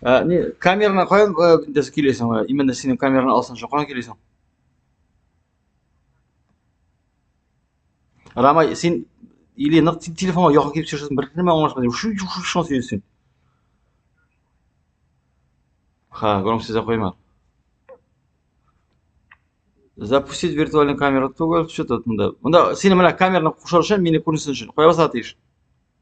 Ә, не, камераны каян дәс килесең? Именно синең камераны алсын, шуңа килесең. Рамай, син или нык телефонга якын килеп сөйләшәсең, бер нәмә аңлашмадым. Шу шу шу шу сөйләсең. Ха, гром сезә койма. Запустить виртуальную камеру. Что тут? Мында, мында синең менә камераны кушар өчен, мине күрсен өчен. Куябыз атыш.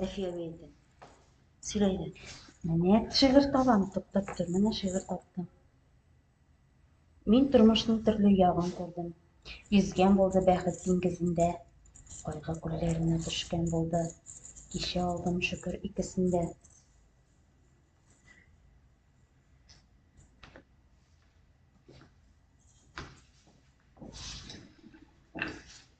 Рәфия әйтә. Сөйлә иде. Менә шигырь табам, туктап тор, менә шигырь таптым. Мин тормышның төрле ягын күрдем. Йөзгән булды бәхет диңгезендә. Кайгы күлләренә төшкән булды. Кичә алдым шөкер икесендә.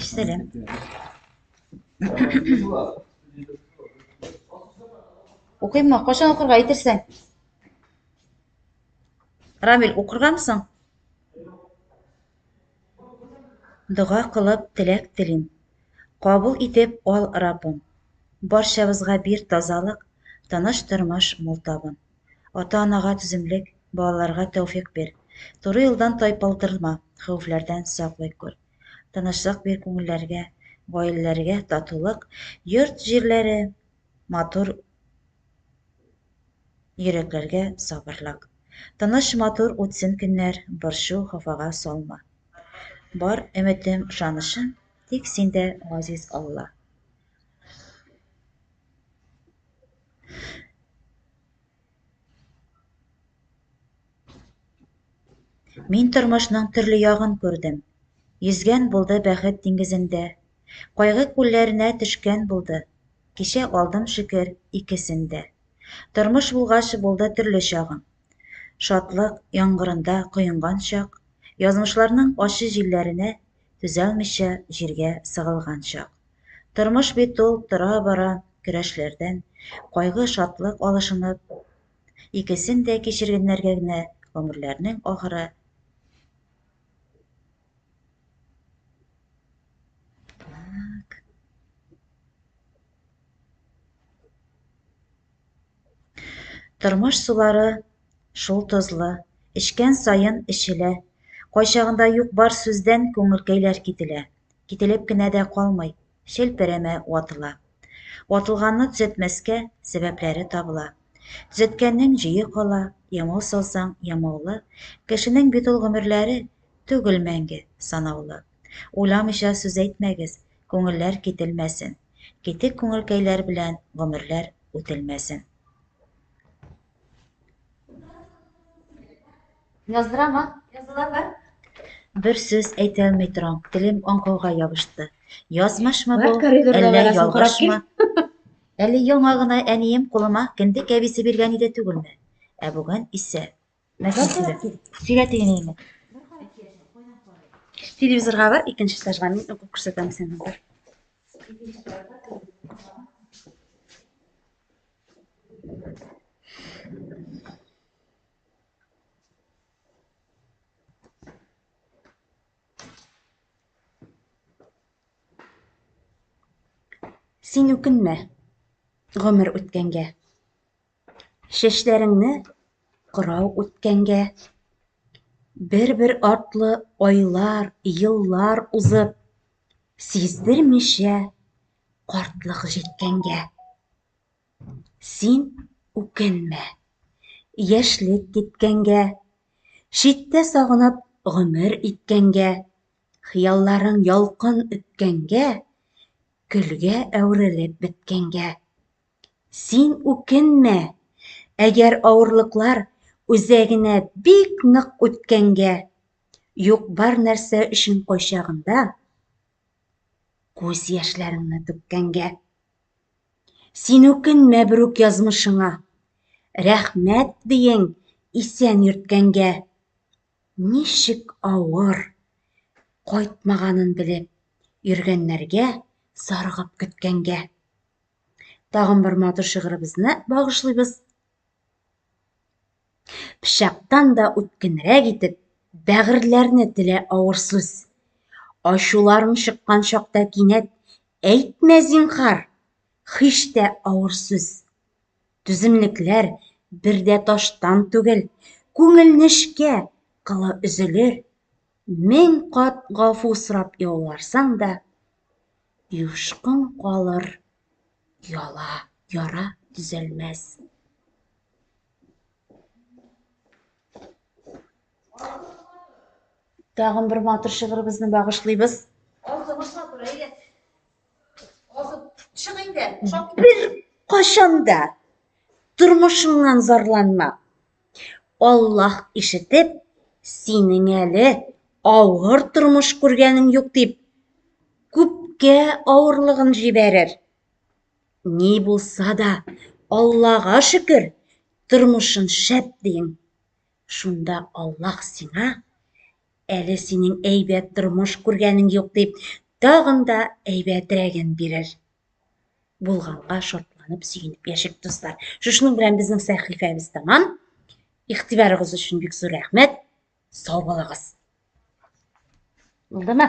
Эшләре. Укыймы? Кашан укырга әйтерсең? Рамил, укыргансың? Дога кылып теләк телим. Кабул итеп ал, Раббым. Барчабызга бир тазалык, тыныч тормыш мул табын. Ата-анага түземлек, балаларга тәүфик бир. Туры юлдан тайпылдырма, хәвефләрдән саклый күр. Тынычлык бир күңелләргә, гаиләләргә татулык, йорт-җирләре матур, йөрәкләргә сабырлык. Тыныч, матур үтсен көннәр, борчу, хафага салма. Бар өметем, ышанычым тик синдә, газиз Алла. Мин тормышның төрле ягын күрдем. Йөзгән булды бәхет диңгезендә. Кайгы күлләренә төшкән булды. Кичә алдым шөкер икесен дә. Тормыш булгач булды төрле чагым. Шатлык яңгырында коенган чак, язмышларның ачы җилләренә түзәлмичә җиргә сыгылган чак. Тормыш бит ул тора-бара көрәшләрдән, кайгы, шатлык алышынып, икесен дә кичергәннәргә генә гомерләрнең ахыры Тормыш сулары шул тозлы, эчкән саен эчелә. Кайчагында юк-бар сүздән күңелкәйләр кителә. Кителеп кенә дә калмый, челперәмә ватыла. Ватылганны төзәтмәскә сәбәпләре табыла. Төзәткәннең җөе кала, ямау салсаң, ямаулы. Кешенең бит ул гомерләре, түгел мәңге, санаулы. Уйламыйча сүз әйтмәгез, күңелләр кителмәсен, Китек күңелкәйләр белән гомерләр үтелмәсен. Яздырам, а? Языла бар. Бер сүз әйтәлми торам, телем аңкылга ябышты. Язмышмы бу, әллә ялгышмы? Әле яңа гына әнием кулыма кендек әбисе биргән иде түгелме? Ә бүген исә Нәрсә сөйләп? Сөйлә дигән инде. Телевизорга бар, икенче этажга мин укып күрсәтәм сиңа бер. Син үкенмә гомер үткәнгә. Чәчләреңне кырау үткәнгә, бер-бер артлы айлар, еллар узып, сиздермичә картлык җиткәнгә. Син үкенмә, яшьлек киткәнгә, читтә сагынып гомер иткәнгә, хыялларың ялкын өткәнгә, көлгә әверелеп беткәнгә. Син үкенмә, әгәр авырлыклар үзәгенә бик нык үткәнгә, юк-бар нәрсә өчен кайчагында күз яшьләреңне түккәнгә. Син үкенмә берүк язмышыңа, рәхмәт диең исән йөрткәнгә. Ничек авыр, кайтмаганын белеп, йөргәннәргә, саргып көткәнгә. Тагын бер матур шигыребезне багышлыйбыз. Пычактан да үткенрәк итеп, бәгырьләрне телә авыр сүз. Ачуларың чыккан чакта кинәт, әйтмә зинхар, хиш тә авыр сүз. Түземлекләр бер дә таштан түгел, күңелнешкә кылы өзелер. Мең кат гафу сорап ялварсаң да, юшкын калыр яла, яра төзәлмәс. Тагын бер матур шигырыбызны багышлыйбыз. Бер кашанда тормышыңнан зарланма. Аллаһ ишетеп, синең әле авыр тормыш күргәнең юк дип, күпкә авырлыгын җибәрер. Ни булса да, Аллага шөкер, тормышын шәп диң. Шунда Аллаһ сиңа, әле синең әйбәт тормыш күргәнең юк дип, тагын да әйбәтрәген бирер. булганга шатланып сөенеп яшик дуслар шушының белән безнең сәхифәбез тәмам игътибарыгыз өчен бик зур рәхмәт сау булыгыз булдымы